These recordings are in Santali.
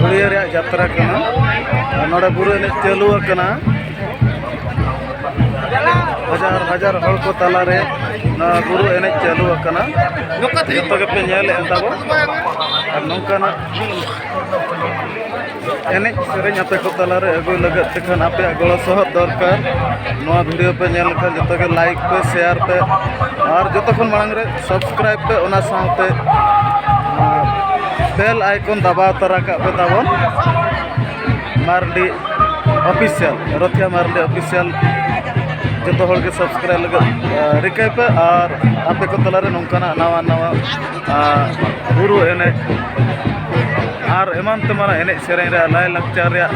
ᱵᱩᱲᱤᱭᱟᱹ ᱨᱮᱭᱟᱜ ᱡᱟᱛᱨᱟ ᱠᱟᱱᱟ ᱱᱚᱰᱮ ᱵᱩᱨᱩ ᱮᱱᱮᱡ ᱪᱟᱹᱞᱩ ᱟᱠᱟᱱᱟ ᱦᱟᱡᱟᱨ ᱦᱟᱡᱟᱨ ᱦᱚᱲ ᱠᱚ ᱛᱟᱞᱟᱨᱮ ᱱᱚᱣᱟ ᱵᱩᱨᱩ ᱮᱱᱮᱡ ᱪᱟᱹᱞᱩ ᱟᱠᱟᱱᱟ ᱡᱚᱛᱚ ᱜᱮᱯᱮ ᱧᱮᱞᱮᱫᱼᱟ ᱛᱟᱵᱚ ᱟᱨ ᱱᱚᱝᱠᱟᱱᱟᱜ ᱮᱱᱮᱡ ᱥᱮᱨᱮᱧ ᱟᱯᱮ ᱠᱚ ᱛᱟᱞᱟᱨᱮ ᱟᱹᱜᱩᱭ ᱞᱟᱹᱜᱤᱫ ᱛᱮᱠᱷᱟᱱ ᱟᱯᱮᱭᱟᱜ ᱜᱚᱲᱚ ᱥᱚᱦᱚᱫ ᱫᱚᱨᱠᱟᱨ ᱱᱚᱣᱟ ᱵᱷᱤᱰᱤᱭᱳ ᱯᱮ ᱧᱮᱞ ᱞᱮᱠᱷᱟᱱ ᱡᱚᱛᱚ ᱜᱮ ᱞᱟᱭᱤᱠ ᱯᱮ ᱥᱮᱭᱟᱨ ᱯᱮ ᱟᱨ ᱡᱚᱛᱚ ᱠᱷᱚᱱ ᱢᱟᱲᱟᱝ ᱨᱮ ᱥᱟᱵᱥᱠᱨᱟᱭᱤᱵ ᱯᱮ ᱚᱱᱟ ᱥᱟᱶᱛᱮ ᱵᱮᱞ ᱟᱭᱠᱚᱱ ᱫᱟᱵᱟᱣ ᱛᱟᱨᱟ ᱠᱟᱜ ᱯᱮ ᱛᱟᱵᱚᱱ ᱢᱟᱨᱰᱤ ᱚᱯᱷᱤᱥᱤᱭᱟᱞ ᱨᱚᱛᱷᱤᱭᱟ ᱢᱟᱨᱰᱤ ᱚᱯᱷᱤᱥᱤᱭᱟᱞ ᱡᱚᱛᱚ ᱦᱚᱲ ᱜᱮ ᱥᱟᱵᱥᱠᱨᱟᱭᱤᱵ ᱞᱟᱹᱜᱤᱫ ᱨᱤᱠᱟᱹᱭ ᱯᱮ ᱟᱨ ᱟᱯᱮ ᱠᱚ ᱛᱟᱞᱟᱨᱮ ᱱᱚᱝᱠᱟᱱᱟᱜ ᱱᱟᱣᱟ ᱱᱟᱣᱟ ᱟᱨ ᱵᱩᱨᱩ ᱮᱱᱮᱡ ᱟᱨ ᱮᱢᱟᱱ ᱛᱮᱢᱟᱱ ᱮᱱᱮᱡ ᱥᱮᱨᱮᱧ ᱨᱮᱭᱟᱜ ᱞᱟᱭᱼᱞᱟᱠᱪᱟᱨ ᱨᱮᱭᱟᱜ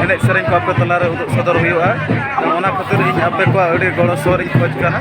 ᱮᱱᱮᱡ ᱥᱮᱨᱮᱧ ᱠᱚ ᱟᱯᱮ ᱛᱟᱞᱟ ᱨᱮ ᱩᱫᱩᱜ ᱥᱚᱫᱚᱨ ᱦᱩᱭᱩᱜᱼᱟ ᱚᱱᱟ ᱠᱷᱟᱹᱛᱤᱨ ᱤᱧ ᱟᱯᱮ ᱠᱚᱣᱟᱜ ᱟᱹᱰᱤ ᱜᱚᱲᱚ ᱥᱚᱦᱚᱫ ᱤᱧ ᱠᱷᱚᱡᱽ ᱠᱟᱱᱟ